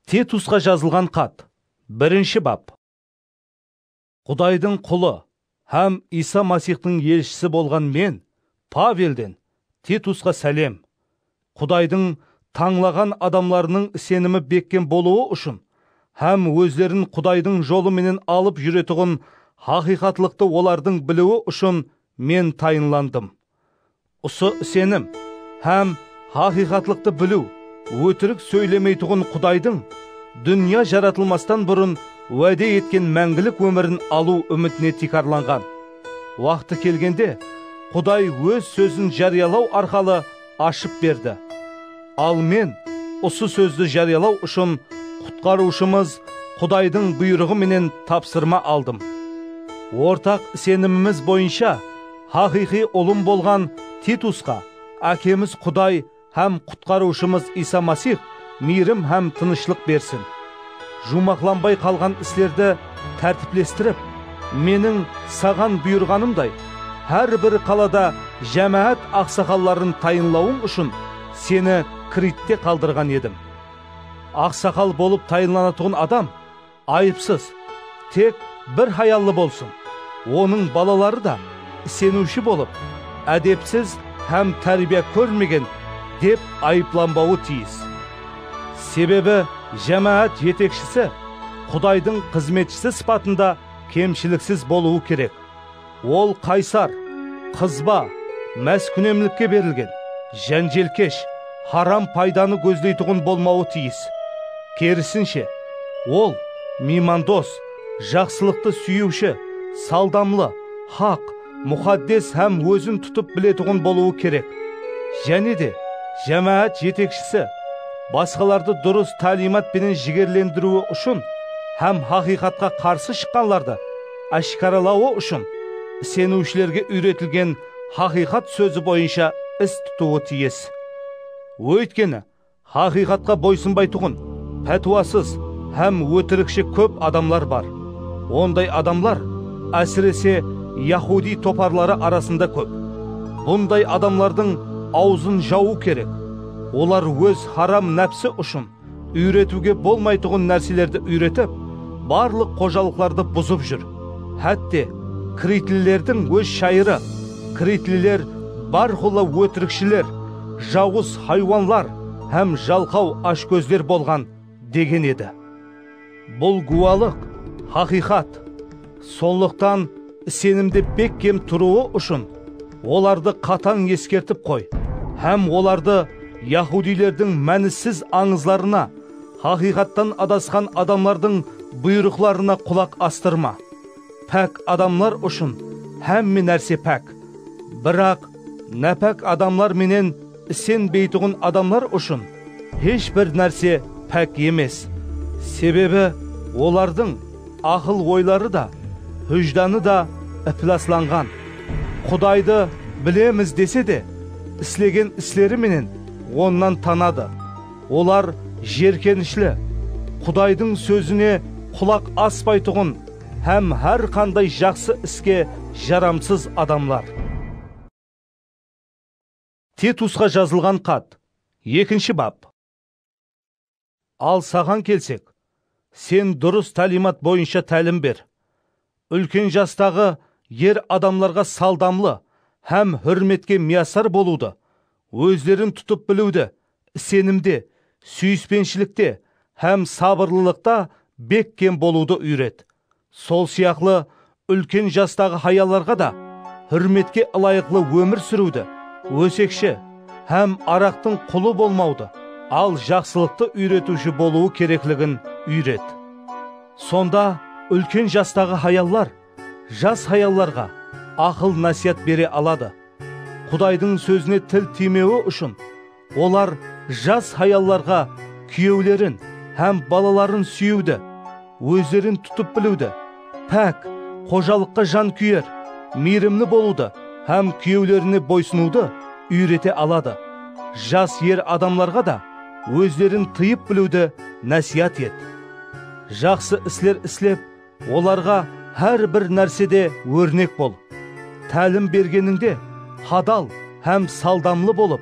Tetusqa jazılǵan xat. Birinshi bap. Qudaydıń qulı hám Iysa Masixtıń elshisi bolǵan men, Pavelden, Tetusqa sálem. Qudaydıń tańlaǵan adamlarınıń isenimi bekkem bolıwı ushın hám ózlerin Qudaydıń jolı menen alıp júretuǵın haqıyqatlıqtı olardıń biliwi ushın men tayınlandım. Usı isenim hám haqıyqatlıqtı biliw ótirik sóylemeytuǵın Qudaydıń dúnya jaratılmastan burın wáde etken máńgilik ómirin alıw úmitine tiykarlanǵan. Waqtı kelgende, Quday Óz Sózin járiyalaw arqalı ashıp berdi. Al men usı Sózdi járiyalaw ushın Qutqarıwshımız Qudaydıń buyrıǵı menen tapsırma aldım. Ortaq isenimimiz boyınsha, Haqıyqıy ulım bolǵan Titusqa Ákemiz Quday hám Qutqarıwshımız Iysa Masix miyrim hám tınıshlıq bersin. Juwmaqlanbay qalǵan islerdi tártiplestirip, meniń saǵan buyırǵanımday, hár bir qalada jámáát aqsaqalların tayınlawıń ushın seni Kritte qaldırǵan edim. Aqsaqal bolıp tayınlanatuǵın adam, Ayıpsız, tek bir hayallı bolsın, onıń balaları da iseniwshi bolıp, ádepsiz hám tárbiya kórmegen dep ayıplanbawı tiyis. Sebebi jámáát jetekshisi Qudaydıń xızmetshisi sıpatında kemshiliksiz bolıwı kerek. Ol qaysar, qızba, máskúnemlikke berilgen, jánjelkesh, haram paydanı gózleytuǵın bolmawı tiyis. Kerisinshe, ol miymandos, jaqsılıqtı súyiwshi, saldamlı, haq, muxaddes hám ózin tutıp biletuǵın bolıwı kerek. Jáne de, jámáát jetekshisi basqalardı durıs táliymat penen jigerlendiriwi ushın hám haqıyqatqa qarsı shıqqanlardı, ashkaralawı ushın iseniwshilerge úyretilgen haqıyqat sózi boyınsha is tutıwı tiyis. Óytkeni, haqıyqatqa boysınbaytuǵın, pátiwasız hám ótirikshi kóp adamlar bar. Onday adamlar, ásirese, yahudiy toparları arasında kóp. Bunday adamlardıń awzın jawıw kerek. Olar óz haram nápsi ushın Úyretiwge bolmaytuǵın nárselerdi úyretip, barlıq xojalıqlardı buzıp júr. Hátte, kritlilerdiń óz shayırı, Kritliler bárqulla ótirikshiler, jawız haywanlar hám jalqaw ashkózler bolǵan, degen edi. Bul gúwalıq, haqıyqat. Sonlıqtan isenimde bekkem turıwı ushın olardı qatań eskertip qoy hám olardı yahudiylerdiń mánisiz ańızlarına, haqıyqattan adasqan adamlardıń buyrıqlarına qulaq astırma. Pák adamlar ushın hámme nárse pák, biraq nápák adamlar menen Isenbeytuǵın adamlar ushın hesh bir nárse pák emes, sebebi olardıń aqıl-oyları da, hújdanı da iplaslanǵan. Qudaydı bilemiz dese de, islegen isleri menen Onnan tanadı. Olar jerkenishli, Qudaydıń sózine qulaq aspaytuǵın hám hár qanday jaqsı iske jaramsız adamlar. Tetusqa jazılǵan xat. Ekinshi bap. Al saǵan kelsek, sen durıs tálimat boyınsha tálim ber. Úlken jastaǵı er adamlarǵa saldamlı hám húrmetke miyasar bolıwdı, ózlerin tutıp biliwdi, isenimde, súyispenshilikte hám sabırlılıqta bekkem bolıwdı úyret. Sol sıyaqlı úlken jastaǵı hayallarǵa da húrmetke ılayıqlı ómir súriwdi, ósekshi hám araqtıń qulı bolmawdı, al jaqsılıqtı úyretiwshi bolıwı kerekligin úyret. Sonda úlken jastaǵı hayallar jas hayallarǵa aqıl-násiyat bere aladı. Qudaydıń sózine til tiymewi ushın Olar jas hayallarǵa kúyewlerin hám balaların súyiwdi, ózlerin tutıp biliwdi, pák, xojalıqqa jan kúyer, miyrimli bolıwdı hám kúyewlerine boysınıwdı úyrete aladı. Jas er adamlarǵa da ózlerin tıyıp biliwdi násiyat et. Jaqsı isler islep, Olarǵa hár bir nársede órnek bol. Tálim bergenińde hadal hám saldamlı bolıp,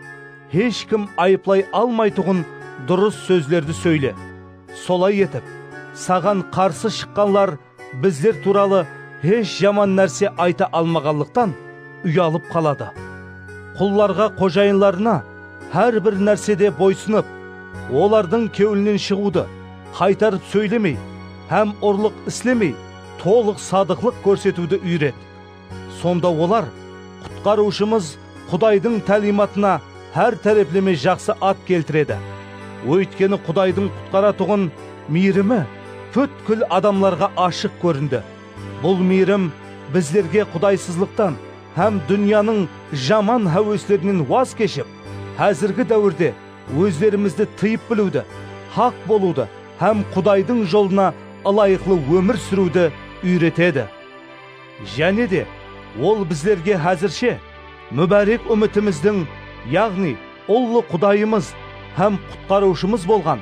hesh kim ayıplay almaytuǵın durıs sózlerdi sóyle. Solay etip, saǵan qarsı shıqqanlar bizler tuwralı hesh jaman nárse ayta almaǵanlıqtan uyalıp qaladı. Qullarǵa xojayınlarına hár bir nársede boysınıp, olardıń kewlinen shıǵıwdı, Qaytarıp sóylemey hám urlıq islemey tolıq sadıqlıq kórsetiwdi úyret. Sonda olar Qutqarıwshımız Qudaydıń tálimatına hár tárepleme jaqsı at keltiredi. Óytkeni Qudaydıń qutqaratuǵın miyrimi pútkil adamlarǵa ashıq kórindi. Bul miyrim bizlerge qudaysızlıqtan hám dúnyanıń jaman háweslerinen waz keship, házirgi dáwirde Ózlerimizdi tıyıp biliwdi, haq bolıwdı hám Qudaydıń jolına ılayıqlı ómir súriwdi úyretedi. Jáne de, Ol bizlerge házirshe múbárek úmitimizdiń, yaǵnıy ullı Qudayımız hám Qutqarıwshımız bolǵan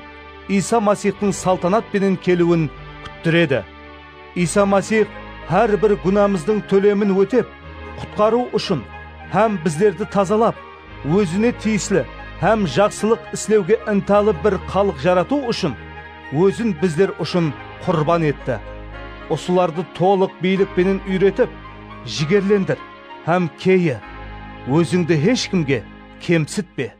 Iysa Masixtıń saltanat penen keliwin kúttiredi. Iysa Masix hár bir gúnamızdıń tólemin ótep, qutqarıw ushın hám bizlerdi tazalap, ózine tiyisli hám jaqsılıq islewge intalı bir xalıq jaratıw ushın ózin bizler ushın qurban etti. Usılardı tolıq biylik penen úyretip, jigerlendir hám keye. Ózińdi hesh kimge kemsitpe.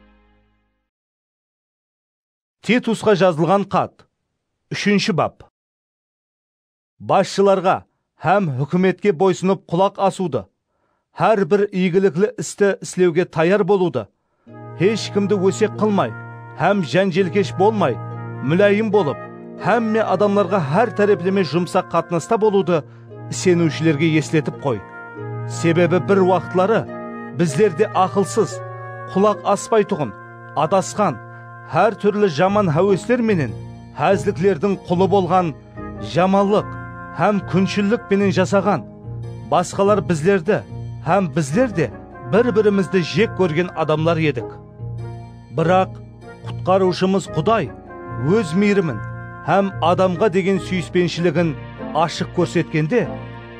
Titusqa jazılǵan xat, úshinshi bap. Basshılarǵa hám húkimetke boysınıp qulaq asıwdı, hár bir iygilikli isti islewge tayar bolıwdı, hesh kimdi ósek qılmay hám jánjelkesh bolmay, múláyim bolıp, hámme adamlarǵa hár tárepleme jumsaq qatnasta bolıwdı iseniwshilerge esletip qoy. Sebebi bir waqıtları bizler de aqılsız, qulaq aspaytuǵın, adasqan, hár túrli jaman háwesler menen házliklerdiń qulı bolǵan jamanlıq hám kúnshillik penen jasaǵan, basqalar bizlerdi hám bizler de bir-birimizdi jek kórgen adamlar edik. Biraq, Qutqarıwshımız Quday Óz miyrimin hám adamǵa degen súyispenshiligin ashıq kórsetkende,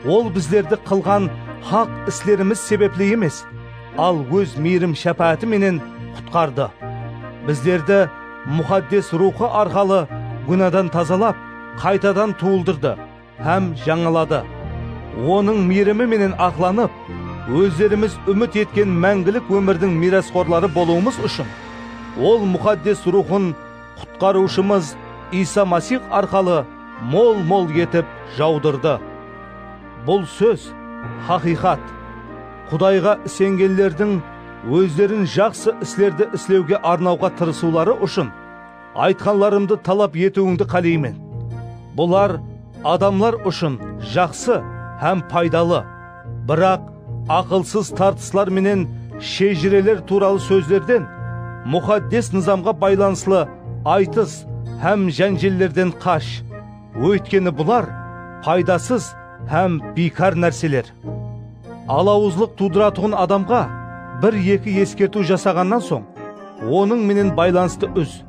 Ol bizlerdi qılǵan haq islerimiz sebepli emes, al Óz miyrim-shápááti menen qutqardı. Bizlerdi Muxaddes Ruwxı arqalı gúnadan tazalap, qaytadan tuwıldırdı hám jańaladı. Onıń miyrimi menen aqlanıp, ózlerimiz úmit etken máńgilik ómirdiń miyrasxorları bolıwımız ushın, Ol Muxaddes Ruwxın Qutqarıwshımız Iysa Masix arqalı mol-mol etip jawdırdı. Bul sóz haqıyqat. Qudayǵa isengenlerdiń ózlerin jaqsı islerdi islewge arnawǵa tırısıwları ushın aytqanlarımdı talap etiwińdi qáleymen. Bular adamlar ushın jaqsı hám paydalı, biraq aqılsız tartıslar menen shejireler tuwralı sózlerden, Muxaddes Nızamǵa baylanıslı aytıs hám jánjellerden qash. Óytkeni bular paydasız hám biykar nárseler. Alawızlıq tuwdıratuǵın adamǵa bir-eki eskertiw jasaǵannan soń, onıń menen baylanıstı úz.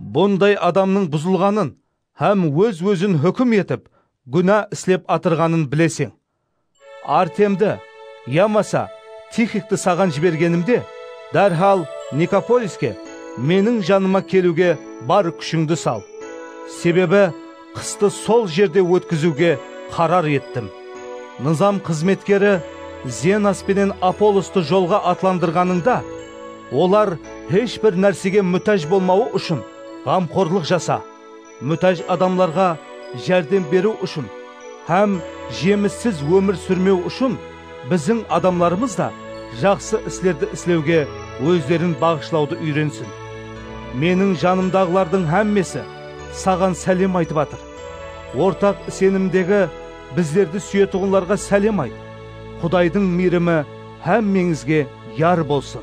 Bunday adamnıń buzılǵanın hám óz-ózin húkim etip, gúna islep atırǵanın bileseń. Artemdi, yamasa Tixiktı saǵan jibergenimde, dárhal Nikopoliske, meniń janıma keliwge bar kúshińdi sal. Sebebi qıstı sol jerde ótkiziwge qarar ettim. Nızam xızmetkeri Zenas penen Apollostı jolǵa atlandırǵanıńda, olar hesh bir nársege mútáj bolmawı ushın ǵamxorlıq jasa. mútáj adamlarǵa járdem beriw ushın hám jemissiz ómir súrmew ushın biziń adamlarımız da jaqsı islerdi islewge ózlerin baǵıshlawdı úyrensin. Meniń janımdaǵılardıń hámmesi saǵan sálem aytıp atır. Ortaq isenimdegi bizlerdi súyetuǵınlarǵa sálem ayt. Qudaydıń miyrimi hámmeńizge yar bolsın!